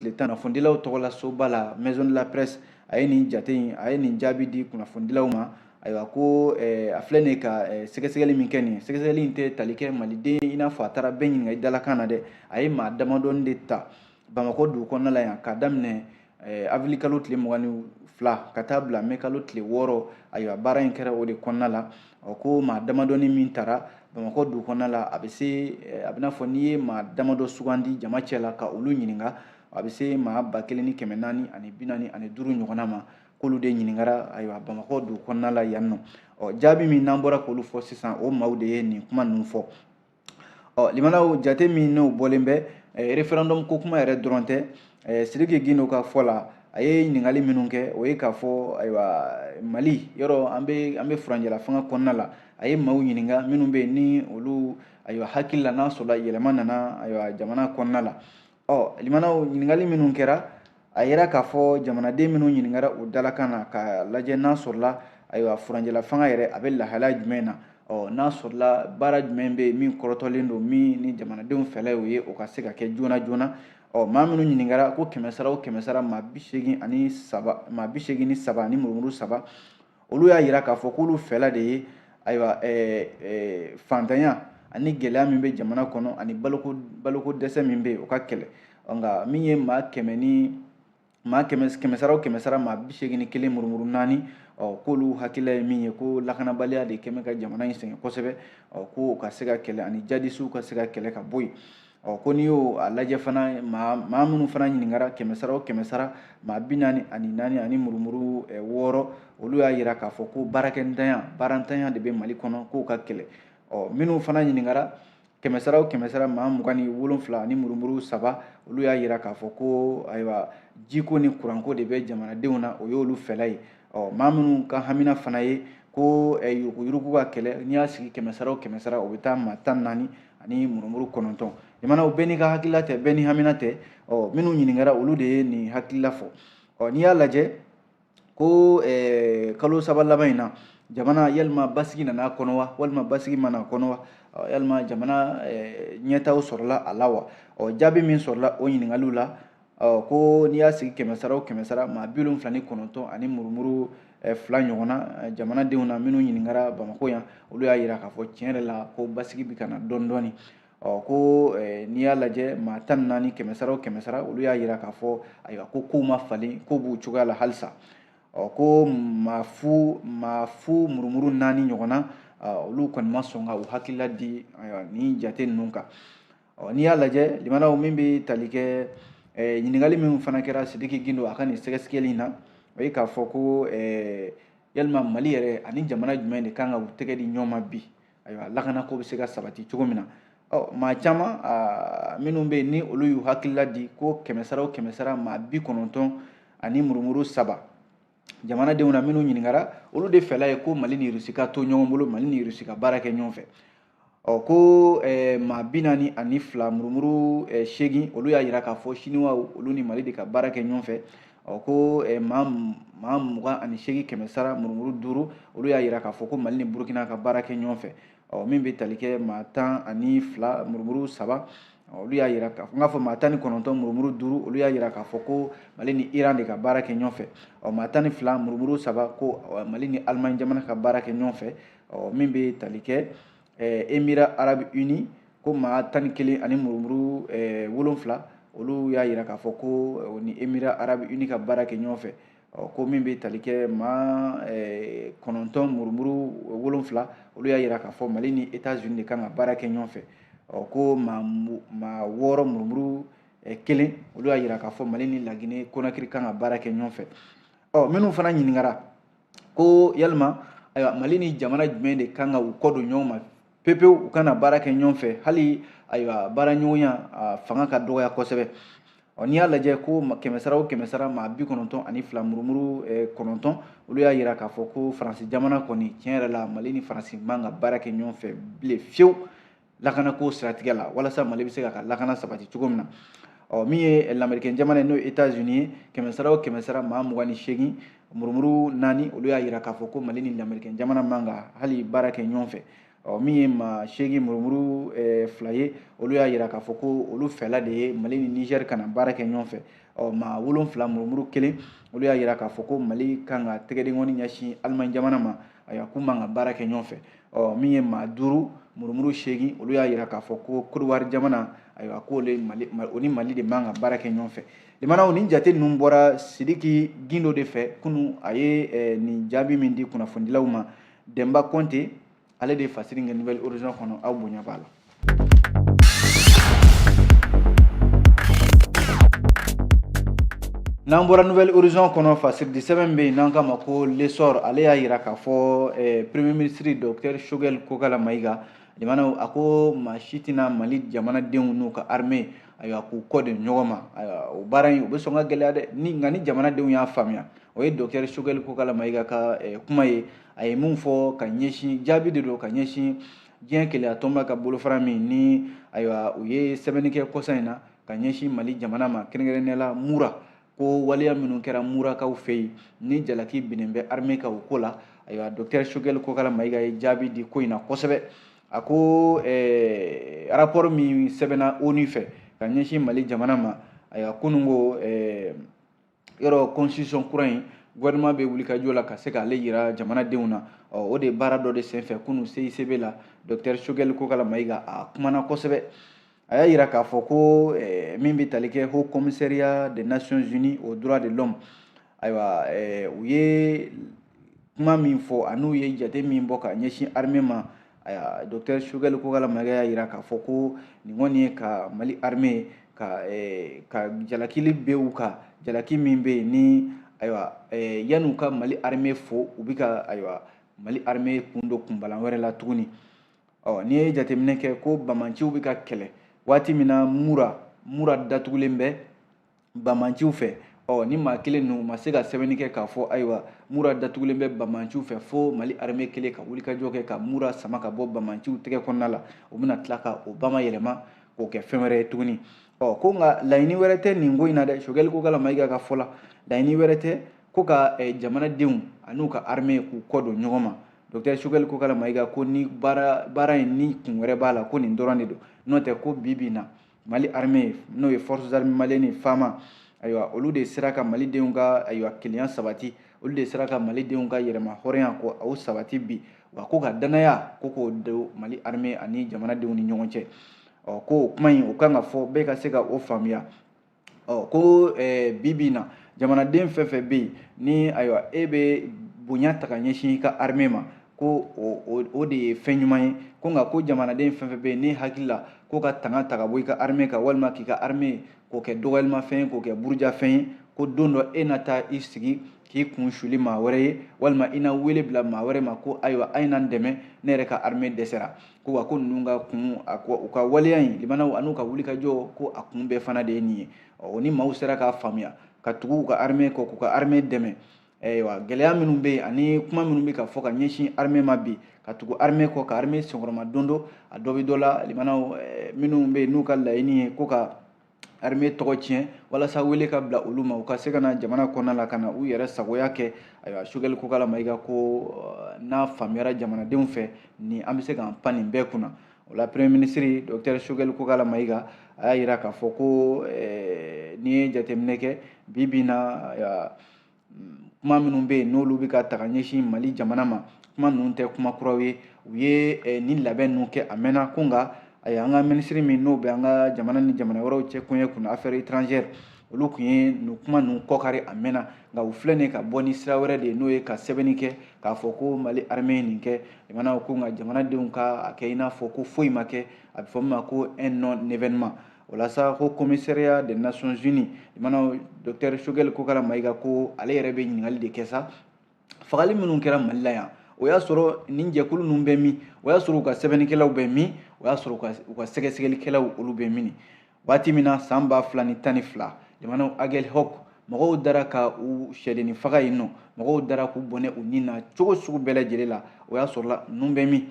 tile tan kunnafonidilaw tɔgɔla soba la maison de la presse a ye nin jate in a ye nin jaabi di kunnafonidilaw ma ayiwa ko eh, a filɛ nin ye ka eh, sɛgɛsɛgɛli min kɛ nin sɛgɛsɛgɛli in tɛ tali kɛ maliden i n'a fɔ a taara bɛɛ ɲininka i dalakan na dɛ a ye maa damadɔni de ta bamakɔ dugu kɔnɔna la yan k'a daminɛ eh, avili kalo tile mugan ni fila ka taa bila mɛ kalo tile wɔɔrɔ ayiwa baara in kɛra o de kɔnɔna la ɔ ko maa damadɔni min tara bamakɔ dugu kɔnɔna la a bɛ se eh, a b'i n'a fɔ n'i ye maa damadɔ sugandi jama cɛ la ka olu ɲininka a bɛ se maa ba kelen ni kɛmɛ naani ani bi naani ani duuru ɲɔgɔnna ma k'olu de ɲininkara ayiwa bamakɔ dugu kɔnɔna la yan nɔ ɔ jaabi min n'an bɔra k'olu fɔ sisan o maaw de ye nin kuma ninnu fɔ ɔ limanaw jate min n'o bɔlen bɛ referendum ko kuma yɛrɛ dɔrɔn tɛ sidiki gindo ka fɔ la a ye ɲininkali minnu kɛ o ye k'a fɔ ayiwa mali yɔrɔ an bɛ an bɛ furancɛla fanga kɔnɔna la a ye maaw ɲininka minnu bɛ yen ni olu ayiwa hakili la n'a sɔrɔla yɛlɛma nana ayiwa jamana kɔnɔna la ɔ limanaw ɲininkali minnu kɛra a yera k'a fɔ jamanaden minnu ɲininkara o dalakan na ka lajɛ n'a sɔrɔla ayiwa furancɛla fanga yɛrɛ a bɛ lahalaya jumɛn na ɔ n'a sɔrɔla baara jumɛn bɛ yen min kɔrɔtɔlen don min ni jamanadenw fɛla y'o ye o ka se ka kɛ joona joona ɔ maa minnu ɲininkara ko kɛmɛ sara o kɛmɛ sara maa bi seegin ani saba maa bi seegin ni saba ani murumuru saba olu y'a yira k'a fɔ k'olu fɛla de ye ayiwa fantanya ani gɛlɛya min bɛ jamana kɔnɔ ani baloko baloko dɛsɛ min bɛ yen o ka kɛlɛ nka min ye maa kɛmɛ ni maa kɛmɛ kɛmɛ sara o kɛmɛ sara maa bi seegin ni kelen murumuru naani ɔ k'olu hakilila ye min ye ko lakanabaliya de kɛ bɛ ka jamana in sɛgɛn kosɛbɛ ɔ k'o ka se ka kɛlɛ ani jadisiw ka se ka kɛlɛ ka bɔ yen ɔ ko n'i y'o a lajɛ fana maa maa minnu fana ɲininkara kɛmɛ sara o kɛmɛ sara maa bi naani ani naani ani murumuru eh, wɔɔrɔ olu y'a yira k'a fɔ ko baarakɛntanya baarantanya de bɛ mali kɔnɔ k'o ka kɛlɛ ɔ minnu fana ɲininkara kɛmɛ sara o kɛmɛ sara maa mugan ni wolonfila ani murumuru saba olu y'a yira k'a fɔ ko ayiwa jiko ni kuranko de bɛ jamanadenw na o y'olu fɛla ye ɔ maa minnu ka hamina fana ye ko yuruguyurugu ka kɛlɛ n'i y'a sigi kɛmɛ sara o kɛmɛ sara o bɛ taa maa tan ni naani ani murumuru kɔnɔntɔn jamanaw bɛɛ n'i ka hakilila tɛ bɛɛ n'i hamina tɛ ɔ minnu ɲininkara olu de ye nin hakilila fɔ ɔ n'i y'a lajɛ ko kalo saba laban in na jamana yalima basigi nana a kɔnɔ wa walima basigi ma na a kɔnɔ wa yalima jamana ɲɛtaa sɔrɔla a la wa ɔ jaabi min sɔrɔla o ɲininkaliw la ɔ ko n'i y'a sigi kɛmɛ sara o kɛmɛ sara maa bi wolonfila ni kɔnɔntɔn ani murumuru eh, fila ɲɔgɔnna eh, jamanadenw na minnu ɲininkara bamakɔ yan olu y'a yira k'a fɔ tiɲɛ yɛrɛ la ko basigi bɛ ka na dɔɔni dɔɔni ɔ ko eh, n'i y'a lajɛ maa tan ni naani kɛmɛ sara o kɛmɛ sara olu y'a yira k'a fɔ ayiwa ko kow ma falen k'u b'u cogoya la halisa ɔ ko maa fu maa fu murumuru naani ɲɔgɔnna olu kɔni ma sɔn ka u hakilila di ayiwa nin jate ninnu kan ɔ n'i y'a lajɛ limanaw min bɛ tali kɛ eh, ɲininkali min fana kɛra sidiki gindo a ka nin sɛgɛsɛgɛli in na o ye k'a fɔ ko eh, yalima mali yɛrɛ ani jamana jumɛn de kan ka u tɛgɛ di ɲɔgɔn ma bi ayiwa lakana ko bɛ se ka sabati cogo min na ɔ maa caman minnu bɛ yen ni olu y'u hakilila di ko kɛmɛ sara o kɛmɛ sara maa bi kɔnɔntɔn ani murumuru saba jamanadenw na minnu ɲininkara olu de fɛla ye ko mali ni rusi ka to ɲɔgɔn bolo mali ni rusi ka baara kɛ ɲɔgɔn fɛ ɔ ko eh, maa bi naani ani fila murumuru eh, seegin olu y'a yira k'a fɔ siniwaw olu ni mali de ka baara kɛ ɲɔgɔn fɛ ɔ ko eh, maa maa mugan ani seegin kɛmɛ sara murumuru duuru olu y'a yira k'a fɔ ko mali ni burukina ka baara kɛ ɲɔgɔn fɛ ɔ min bɛ tali kɛ maa tan ani fila murumuru saba olu y'a yira k'a fɔ n k'a fɔ maa tan ni kɔnɔntɔn murumuru duuru olu y'a yira k'a fɔ ko mali ni iran de ka baara kɛ ɲɔgɔn fɛ ɔ maa tan ni fila murumuru saba ko mali ni alimaɲi jamana ka baara kɛ ɲɔgɔn fɛ ɔ min bɛ tali kɛ emira arabi uni ko maa tan ni kelen ani murumuru wolonfila olu y'a yira k'a fɔ ko ni emira arabi uni ka baara kɛ ɲɔgɔn fɛ ɔ ko min bɛ tali kɛ maa eh, kɔnɔntɔn murumuru wolonfila olu y'a yira k'a fɔ mali ni etats unis de kan ka baara kɛ ɲɔgɔn fɛ ɔ ko maa maa wɔɔrɔ murumuru eh, kelen olu y'a yira k'a fɔ mali ni lagine konakiri kan ka baara kɛ ɲɔgɔn fɛ ɔ minnu fana ɲininkara ko yalima ayiwa mali ni jamana jumɛn de kan ka u kɔ don ɲɔgɔn ma pepewu u kana baara kɛ ɲɔgɔn fɛ hali ayiwa baara ɲɔgɔnya fanga ka dɔgɔya kosɛbɛ ɔ n'i y'a lajɛ ko kɛmɛ sara o kɛmɛ sara maa bi kɔnɔntɔn ani fila murumuru eh, kɔnɔntɔn olu y'a yira k'a fɔ ko faransi jamana kɔni tiɲɛ yɛrɛ la mali ni faransi man ka baara kɛ ɲɔgɔn fɛ bilen fiyewu lakanako siratigɛ la walasa mali bɛ se k'a ka lakana sabati cogo min na ɔ min ye lamerikɛn jamana ye n'o ye etats unis ye kɛmɛ sara o kɛmɛ sara maa mugan ni seegin murumuru naani olu y'a yira k'a fɔ ko mali ni lamerikɛn jamana man ka hali baara kɛ ɲɔgɔn fɛ ɔ min ye maa seegin murumuru eh, fila ye olu y'a yira k'a fɔ ko olu fɛla de ye mali ni niger kana baara kɛ ɲɔgɔn fɛ ɔ maa wolonfila murumuru kelen olu y'a yira k'a fɔ ko mali kan ka tɛgɛdenkɔni ɲɛsin alimaɲi jamana ma ayiwa k'u man ka baara kɛ ɲɔgɔn fɛ ɔ min ye maa duuru murumuru seegin olu y'a yira k'a fɔ ko kodowari jamana ayiwa k'olu mali o ni mali de man ka baara kɛ ɲɔgɔn fɛ Limanaw ni jate ninnu bɔra Sidiki Gindo de fɛ kunu a ye eh, nin jaabi min di kunnafonidilaw ma Denba Konte ale de ye fasiri kɛ Nouvel Horizon kɔnɔ aw bonya b'a la. N'an bɔra Nouvel Horizon kɔnɔ fasiridi sɛbɛn bɛ yen n'an k'a ma ko L'Essor ale y'a yira k'a fɔ eh, Premier ministre Docteur Choguel Kokala Mayiga jamanaw a ko maa si tɛna Mali jamanadenw n'u ka armée ayiwa k'u kɔ don ɲɔgɔn ma ayiwa o baara in o bɛ sɔn ka gɛlɛya dɛ ni nka ni jamanadenw y'a faamuya o ye docteur Choguel Kokala Mayiga ka eh, kuma ye a ye min fɔ ka ɲɛsin jaabi de don ka ɲɛsin diɲɛ kelenya tɔnba ka bolofara min ni ayiwa u ye sɛbɛnni kɛ kɔsa in na ka ɲɛsin mali jamana ma kɛrɛnkɛrɛnnenya la mura ko waleya minnu kɛra murakaw fɛ yen ni jalaki binnen bɛ armée kan o ko la ayiwa docteur Choguel Kokala Mayiga ye jaabi di ko in na kosɛbɛ a ko eh, rapport min sɛbɛnna ONU fɛ ka ɲɛsin mali jamana ma ayiwa kunun ko eh, yɔrɔ constitution kura in gouvernement bɛ wulikajɔ la ka se k'ale yira jamanadenw na o de baara dɔ de senfɛ kunun CICB la docteur Choguel Kokala Mayiga a kumana kosɛbɛ a y'a yira k'a fɔ ko eh, min bɛ tali kɛ haut commissariat des nations unies aux droits de l'homme ayiwa eh, u ye kuma min fɔ an'u ye jate min bɔ ka ɲɛsin armée ma ayiwa docteur Choguel Kokala Mayiga y'a yira k'a fɔ ko nin kɔni ye ka mali armée ka eh, ka jalakili bin u kan jalaki min bɛ yen ni ayiwa yan'u ka mali armée fo u bɛ ka ayiwa mali armée kun don kunbalan wɛrɛ la tuguni ɔ n'i ye jateminɛ kɛ ko banbaanciw bɛ ka kɛlɛ waati min na mura mura datugulen bɛ banbaanciw fɛ ɔ ni maa kelen ninnu ma se ka sɛbɛnni kɛ k'a fɔ ayiwa mura datugulen bɛ banbaanciw fɛ fo mali armée kelen ka wulikajɔ kɛ ka mura sama ka bɔ banbaanciw tɛgɛ kɔnɔna la u bɛna tila ka o bamayɛlɛma k'o kɛ fɛn wɛrɛ ye tuguni ɔ ko nka laɲini wɛrɛ tɛ nin ko in na dɛ Choguel Kokala Mayiga ka fɔ la laɲini wɛrɛ tɛ ko ka jamanadenw an'u ka armée k'u kɔ don ɲɔgɔn ma docteur Choguel Kokala Mayiga ko nin baara in ni kun wɛrɛ b'a la ko nin dɔrɔn de don n'o tɛ ko bi bi na mali armée n'o ye forces armées maliennes FAMa ayiwa olu de sera ka malidenw ka ayiwa kelenya sabati olu de sera ka malidenw ka yɛrɛmahɔrɔnya ko o sabati bi wa ko ka dannaya ko k'o don mali armée ani jamanadenw ni ɲɔgɔn cɛ ɔ ko o kuma in o kan ka fɔ bɛɛ ka se ka o faamuya ɔ ko bi bi in na jamanaden fɛn fɛn bɛ yen ni ayiwa e bɛ bonya ta ka ɲɛsin i ka armée ma ko o de ye fɛn ɲuman ye ko nka ko jamanaden fɛn fɛn bɛ yen n'i hakili la ko ka tanga ta ka bɔ i ka armée kan walima k'i ka armée k'o kɛ dɔgɔyalimafɛn ye k'o kɛ burujafɛn ye ko don dɔ e na taa i sigi k'i kun suli maa wɛrɛ ye walima i na wele bila maa wɛrɛ ma ko ayiwa a ye na n dɛmɛ ne yɛrɛ ka armée dɛsɛra ko wa ko ninnu ka kun a ko u ka waleya in limanaw an'u ka wulikajɔ ko a kun bɛɛ fana de ye nin ye ɔ ni maaw sera k'a faamuya ka tugu u ka armée kɔ k'u ka armée dɛmɛ ayiwa gɛlɛya minnu bɛ yen ani kuma minnu bɛ ka fɔ ka ɲɛsin armée ma bi ka tugu armée kɔ ka armée senkɔrɔmadondon a dɔ bɛ dɔ la limanaw minnu bɛ yen n'u ka laɲini ye ko ka armée tɔgɔ tiɲɛ walasa wele ka bila olu ma u ka se ka na jamana kɔnɔna la ka na u yɛrɛ sagoya kɛ ayiwa sogɛli kokala mayiga ko euh, n'a faamuyara jamanadenw fɛ ni an bɛ se k'an pan nin bɛɛ kunna o la premier ministre docteur sogɛli kokala mayiga a y'a yira k'a fɔ ko euh, n'i ye jateminɛ kɛ bi bi in na kuma minnu bɛ yen n'olu bɛ ka ta ka ɲɛsin mali jamana ma kuma ninnu tɛ kuma kuraw ye u ye eh, nin labɛn ninnu kɛ a mɛnna ko nka ayi an ka minisiri min n'o bɛ an ka jamana ni jamana wɛrɛw cɛ koɲɛ kunna affaires étrangères olu kun ye nin kuma ninnu kɔkari a mɛnna nka u filɛ nin ka bɔ ni sira wɛrɛ de ye n'o ye ka sɛbɛnni kɛ k'a fɔ ko mali armée ye nin kɛ jamana ko nka jamanadenw ka a kɛ i n'a fɔ ko foyi ma kɛ a bɛ fɔ min ma ko un non événement o la sa haut commissariat des nations unies limanaw docteur sogɛli kokala mayiga ko ale yɛrɛ bɛ ɲininkali de kɛ sa fagali minnu kɛra mali la yan o y'a sɔrɔ nin jɛkulu ninnu bɛ min o y'a sɔrɔ u ka sɛbɛnnikɛlaw bɛ min o y'a sɔrɔ u ka sɛgɛsɛgɛlikɛlaw olu bɛ min waati min na san ba fila ni tan ni fila jamanaw agɛlhɔk mɔgɔw dara ka u sɛdenni faga yen nɔ mɔgɔw dara k'u bɔnɛ u ni na cogo sugu bɛɛ lajɛlen la o y'a sɔrɔla ninnu bɛ min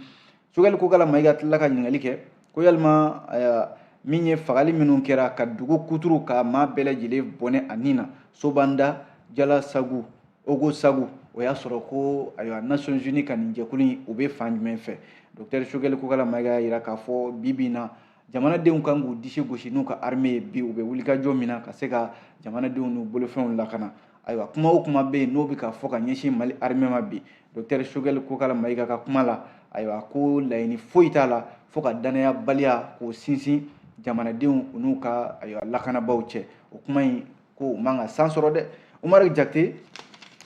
sogɛli kokala mayiga tilala ka ɲininkali kɛ ko yalima min ye fagali minnu kɛra ka dugu kuturu ka maa bɛɛ lajɛlen bɔnɛ a ni na sobanda jalasagu ogosagu o y'a sɔrɔ ko ayiwa nations unies ka nin jɛkulu in u bɛ fan jumɛn fɛ docteur sogɛli kokala mayiga y'a yira k'a fɔ bi bi in na jamanadenw kan k'u disi gosi n'u ka armée ye bi u bɛ wulikajɔ min na ka se ka jamanadenw n'u bolofɛnw lakana ayiwa kuma o kuma bɛ yen n'o bɛ ka fɔ ka ɲɛsin mali armée ma bi docteur sogɛli kokala mayiga ka kuma la ayiwa ko laɲini foyi t'a la fo ka dannayabaliya k'o sinsin jamanadenw u n'u ka ayiwa lakanabaaw cɛ o kuma in ko u man ka san sɔrɔ dɛ umaru jakite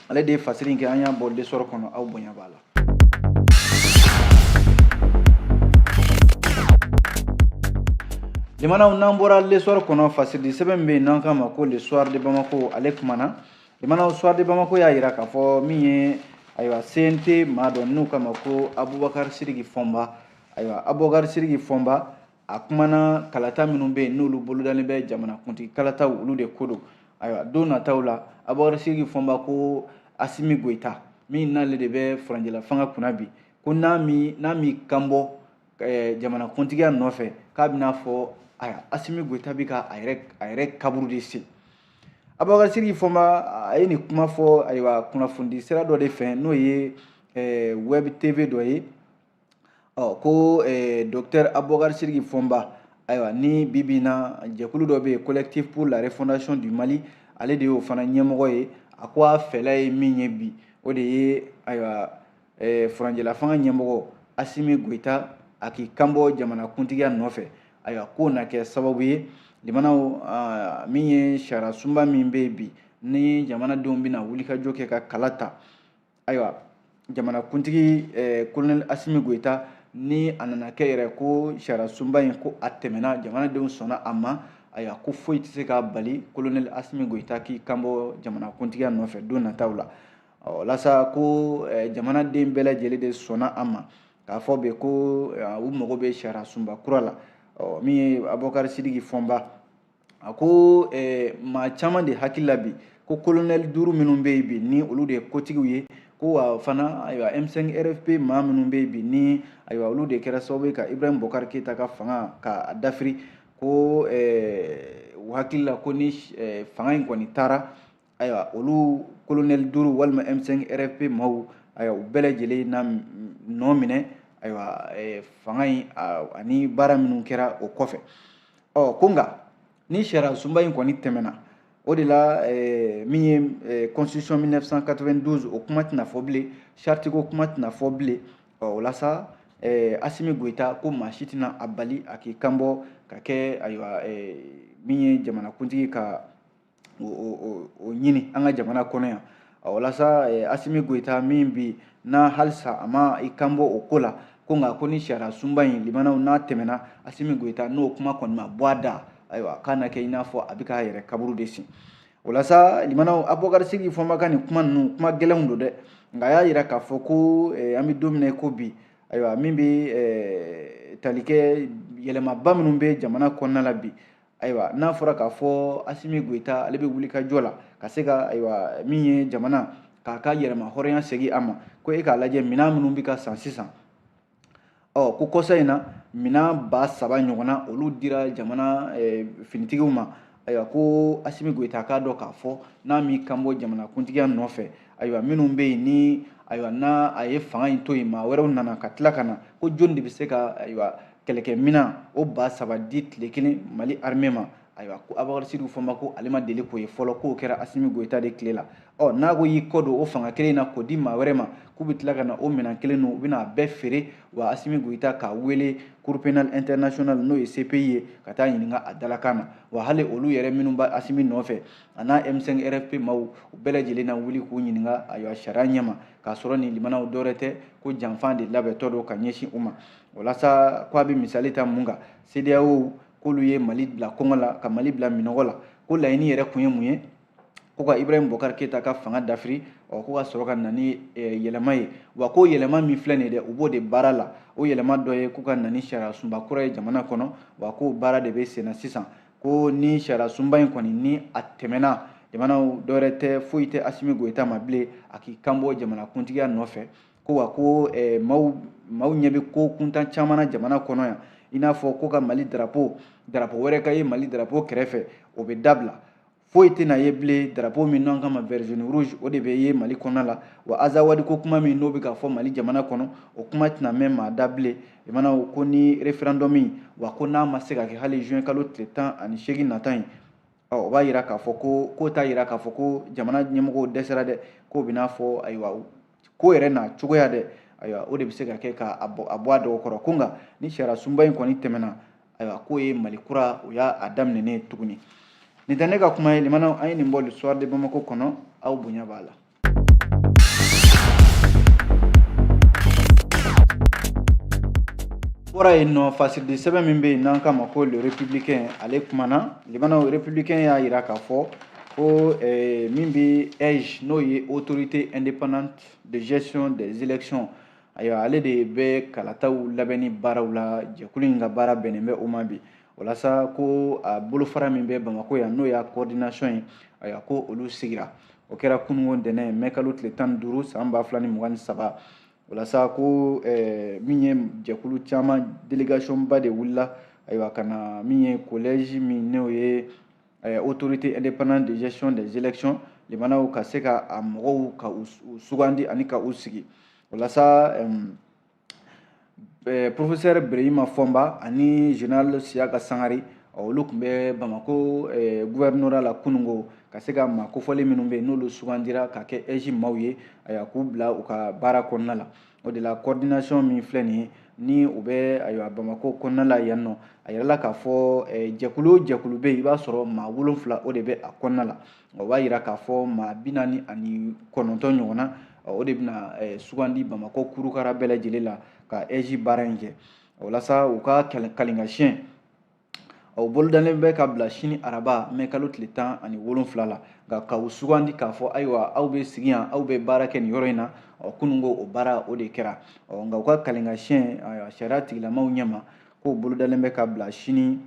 ale de ye fasiri in kɛ an y'a bɔ l'essor kɔnɔ aw bonya b'a la limanaw n'an bɔra l'essor kɔnɔ fasiridi sɛbɛn min bɛ yen n'an k'a ma ko le soir de bamako ale kumana limanaw soir de bamako y'a yira k'a fɔ min ye ayiwa cnt maa dɔ n'u k'a ma ko abubakari sidiki fɔnba ayiwa abubakari sidiki fɔnba a kumana kalata minnu bɛ yen n'olu bolodalen bɛ jamanakuntigi kalataw olu de ko don ayiwa don nataw la abubakar sidiki fɔnba ko asimi goyita min n'ale de bɛ furancɛla fanga kunna bi ko n'a mi n'a mi kanbɔ eh, jamanakuntigiya nɔfɛ k'a bɛna fɔ aya asimi goyita bɛ ka a yɛrɛ a yɛrɛ kaburu de sen abubakar sidiki fɔnba a ye nin kuma fɔ ayiwa kunnafonidi sira dɔ de fɛ n'o ye eh, web tv dɔ ye ɔ ko eh, docteur abubakar sidiki fɔnba ayiwa ni bi bi in na jɛkulu dɔ bɛ yen collectif pour la refondation du mali ale de y'o fana ɲɛmɔgɔ ye a ko a fɛla ye min ye bi o de ye ayiwa eh, furanjɛlafanga ɲɛmɔgɔ asimi goyita a k'i kanbɔ jamanakuntigiya nɔfɛ ayiwa k'o na kɛ sababu ye limanaw ah, min ye sariyasunba min bɛ yen bi ni jamanadenw bɛna wulikajɔ kɛ ka kala ta ayiwa jamanakuntigi eh, kolonɛli asimi goyita ni a nana kɛ yɛrɛ ko sariyasunba in ko a tɛmɛna jamanadenw sɔnna a ma ayiwa ko foyi tɛ se k'a bali kolonɛli asimi goyita k'i kanbɔ jamanakuntigiya nɔfɛ don nataw la ɔ walasa ko eh, jamanaden bɛɛ lajɛlen de sɔnna a ma k'a fɔ bɛɛ ko eh, u mago bɛ sariyasunba kura la ɔ min ye abubakari sidiki fɔnba a ko eh, maa caman de hakili la bi ko kolonɛli duuru minnu bɛ yen bi ni olu de ye kotigiw ye ko wa fana ayiwa M5 RFP maa minnu bɛ yen bi ni ayiwa olu de kɛra sababu ye ka Ibrahim Bokar Keita ka fanga k'a dafiri ko eh, u hakili la ko ni eh, fanga in kɔni taara ayiwa olu kolonɛli duuru walima m5 rfp maaw ayiwa u bɛɛ lajɛlen na nɔ minɛ ayiwa eh, fanga in ani baara minnu kɛra o kɔfɛ ɔ ko nka ni sariya sunba in kɔni tɛmɛna o de la eh, min ye eh, constitution 1992 o kuma tɛna fɔ bilen charte ko kuma tɛna fɔ bilen ɔ o la sa asimi goyita ko maa si tɛna a bali a k'i kanbɔ ka kɛ ayiwa min ye jamanakuntigi ka o ɲini an ka jamana kɔnɔ yan o la sa asimi goyita min bi na halisa a ma i kanbɔ o ko la ko nka ko ni sariya sunba in limanaw n'a tɛmɛna asimi goyita n'o kuma kɔni ma bɔ a da ayiwa k'a na kɛ i n'a fɔ a bɛ k'a yɛrɛ kaburu de sen o la sa limanaw abubakari sidiki fɔnba ka nin kuma ninnu kuma gɛlɛnw don dɛ nka a y'a yira k'a fɔ ko an bɛ don min na ko bi ayiwa min bɛ tali kɛ yɛlɛmaba minnu bɛ jamana kɔnɔna la bi ayiwa n'a fɔra k'a fɔ asimi goyita ale bɛ wulikajɔ la ka se ka ayiwa min ye jamana k'a ka yɛrɛmahɔrɔnya segin a ma ko e k'a lajɛ minɛn minnu bɛ ka san sisan ɔ ko kɔsa in na minɛn ba saba ɲɔgɔnna olu dira jamana finitigiw ma ayiwa ko asimi goyita k'a dɔn k'a fɔ n'a m'i kanbɔ jamanakuntigiya nɔfɛ ayiwa minnu bɛ yen ni ayiwa n'a a ye fanga in to yen maa wɛrɛw nana ka tila ka na ko jɔni de bɛ se ka ayiwa kɛlɛkɛminan o ba saba di tile kelen mali armée ma ayiwa ko abubakar sidiki fɔnba ko ale ma deli k'o ye fɔlɔ k'o kɛra asimi goyita de tile la ɔ n'a ko y'i kɔ don o fanga kelen na k'o di maa wɛrɛ ma k'u bɛ tila ka na o minɛn kelen ninnu u bɛna a bɛɛ feere wa asimi goyita k'a wele cour pénal international n'o ye cpi ye ka taa ɲininka a dalakan na wa hali olu yɛrɛ minnu bɛ asimi nɔfɛ a n'a m5 rfp maaw u bɛɛ lajɛlen na wuli k'u ɲininka ayiwa sariya ɲɛma k'a sɔrɔ nin limanaw dɔwɛrɛ tɛ ko janfan de labɛntɔ don ka ɲɛsin u ma walasa ko a bɛ misali ta mun kan CEDEAO k'olu ye Mali bila kɔngɔ la ka Mali bila minɔgɔ la ko laɲini yɛrɛ kun ye mun ye ko ka Ibrahim Bokar Keita ka fanga dafiri ɔ ko ka sɔrɔ ka na ni eh, yɛlɛma ye wa ko yɛlɛma min filɛ nin ye dɛ u b'o de baara la o yɛlɛma dɔ ye ko ka na ni sariya sunba kura ye jamana kɔnɔ wa k'o baara de bɛ senna sisan ko ni sariya sunba in kɔni ni a tɛmɛna jamanaw dɔwɛrɛ tɛ foyi tɛ asimi goyita ma bilen a k'i kanbɔ jamanakuntigiya nɔfɛ ko wa ko eh, maaw maaw ɲɛ bɛ ko kuntan caman na jamana kɔnɔ yan i n'a fɔ ko ka mali darapo darapo wɛrɛ ka ye mali darapo kɛrɛfɛ o bɛ dabila foyi tɛna ye bilen darapo min n'an k'a ma vert jaune rouge o de bɛ ye mali kɔnɔna la wa azawadi ko kuma min n'o bɛ ka fɔ mali jamana kɔnɔ o kuma tɛna mɛn maa da bilen limanaw ko ni référendum wa ko n'a ma se ka kɛ hali juin kalo tile tan ani seegin nata in Ɔ o b'a yira k'a fɔ ko k'o t'a yira k'a fɔ ko jamana ɲɛmɔgɔw dɛsɛra dɛ k'o bɛna a fɔ ayiwa ko yɛrɛ n'a cogoya dɛ ayiwa o de bɛ se ka kɛ k'a bɔ a dɔgɔ kɔrɔ ko nka ni sariya sunba in kɔni tɛmɛna ayiwa k'o ye mali kura o y'a daminɛnen tuguni nin tɛ ne ka kuma ye limana an ye nin bɔ le soir de bamako kɔnɔ aw bonya b'a la bɔra yen nɔ fasiridi sɛbɛn min bɛ yen n'an k'a ma ko le républicain ale kumana limanaw républicain y'a yira k'a fɔ ko eh, min bɛ aige n'o ye autorité indépendante de gestion des élections ayiwa ale de bɛ kalataw labɛnni baaraw la jɛkulu in ka baara bɛnnen bɛ o ma bi walasa ko a bolofara min bɛ bamako yan n'o y'a coordination ye ayiwa ko olu sigira o kɛra kununko ntɛnɛn mɛ kalo tile tan ni duuru san ba fila ni mugan ni saba walasa ko eh, min ye jɛkulu caman délégation ba de wulila ayiwa ka na min ye kolɛji min n'o ye eh, autorité indépendante de gestion des élections limanaw ka se ka a mɔgɔw ka u sugandi ani ka u sigi walasa professeur berehima fɔnba ani général siyaka sangare olu tun bɛ bamako gouvernorat la kununko ka se ka maa kofɔlen minnu bɛ yen n'olu sugandira ka kɛ aige maaw ye ayiwa k'u bila u ka baara kɔnɔna la o de la coordination min filɛ nin ye ni u bɛ ayiwa bamako kɔnɔna la yan nɔ a yirala k'a fɔ jɛkulu o jɛkulu bɛ yen i b'a sɔrɔ maa wolonwula o de bɛ a kɔnɔna la o b'a jira k'a fɔ maa bi naani ani kɔnɔntɔn ɲɔgɔn na o de bɛna eh, sugandi bamakɔ kurukara bɛɛ lajɛlen la ka ɛji baara in kɛ walasa u ka kalinkasiyɛn o bolodalen bɛ ka bila sini araba mɛ kalo tile tan ani wolonfila la nka ka u sugandi k'a fɔ ayiwa aw bɛ sigi yan aw bɛ baara kɛ nin yɔrɔ in na kunun ko o baara o de kɛra nka u ka kalinkasiyɛn sariya tigilamaw ɲɛma k'o bolodalen bɛ ka bila sini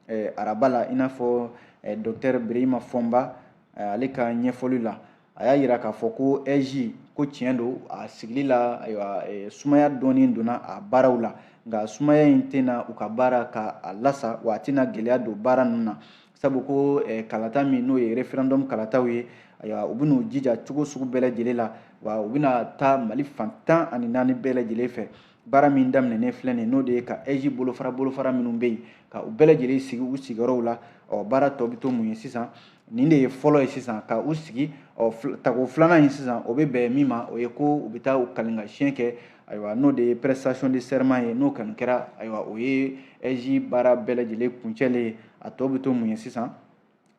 eh, araba la i n'a fɔ eh, dɔktɛr birahima fɔnba eh, ale ka ɲɛfɔli la a y'a yira k'a fɔ ko ɛji ko tiɲɛ don a sigili la ayiwa eh, sumaya dɔɔnin donna a baaraw la nka sumaya in tɛna u ka baara ka a lasa wa a tɛna gɛlɛya don baara ninnu na sabu ko eh, kalata min n'o ye referendum kalataw ye ayiwa u bɛn'u jija cogo sugu bɛɛ lajɛlen la wa u bɛna taa mali fan tan ani naani bɛɛ lajɛlen fɛ baara min daminɛnen filɛ nin n'o de ye ka ɛji bolofara bolofara minnu bɛ yen ka u bɛɛ lajɛlen sigi u sigiyɔrɔw la ɔ baara tɔ bɛ to mun ye sisan nin de ye fɔlɔ ye sisan ka u sigi ɔ tako filanan in sisan o bɛ bɛn min ma o ye ko u bɛ taa u kalinkasiyɛn kɛ ayiwa n'o de ye prestation de serment ye n'o kɔni kɛra ayiwa o ye ɛji baara bɛɛ lajɛlen kuncɛlen ye a tɔ bɛ to mun ye sisan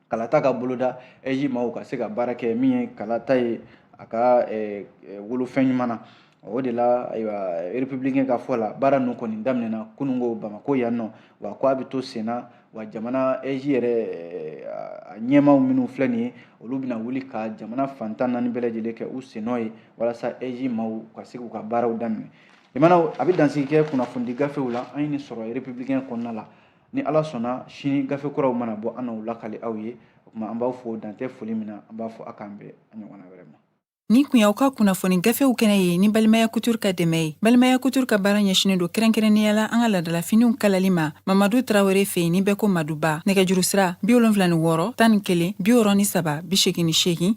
kalata ka boloda ɛji maaw ka se ka baara kɛ min ye kalata ye a ka wolo fɛn ɲuman na o de la ayiwa républicain ka fɔ la baara ninnu kɔni daminɛna kunun ko bamakɔ yan nɔ wa ko a bɛ to senna wa jamana ɛji yɛrɛ a ɲɛmaaw minnu filɛ nin ye olu bɛna wuli ka jamana fan tan ni naani bɛɛ lajɛlen kɛ u sennɔ ye walasa ɛji maaw ka se k'u ka baaraw daminɛ jamanaw an bɛ dansigi kɛ kunnafonidi gafew la an ye nin sɔrɔ républicain kɔnɔna la ni ala sɔnna sini gafe kuraw mana bɔ an n'u lakali aw ye o tuma an b'aw fo dan tɛ foli min na an b'a fɔ a k'an bɛn a ɲɔgɔnna wɛrɛ ma Nin kun y'aw ka kunnafoni gafew kɛnɛ ye ni balimaya kutur ka dɛmɛ ye balimaya kutur ka baara ɲɛsinen don kɛrɛnkɛrɛnnenya la an ka ladalafiniw kalali ma mamadu tarawele fɛ yen ni bɛɛ ko maduba nɛgɛjuru sira bi wolonfila ni wɔɔrɔ tan ni kelen bi wɔɔrɔ ni saba bi segin ni segin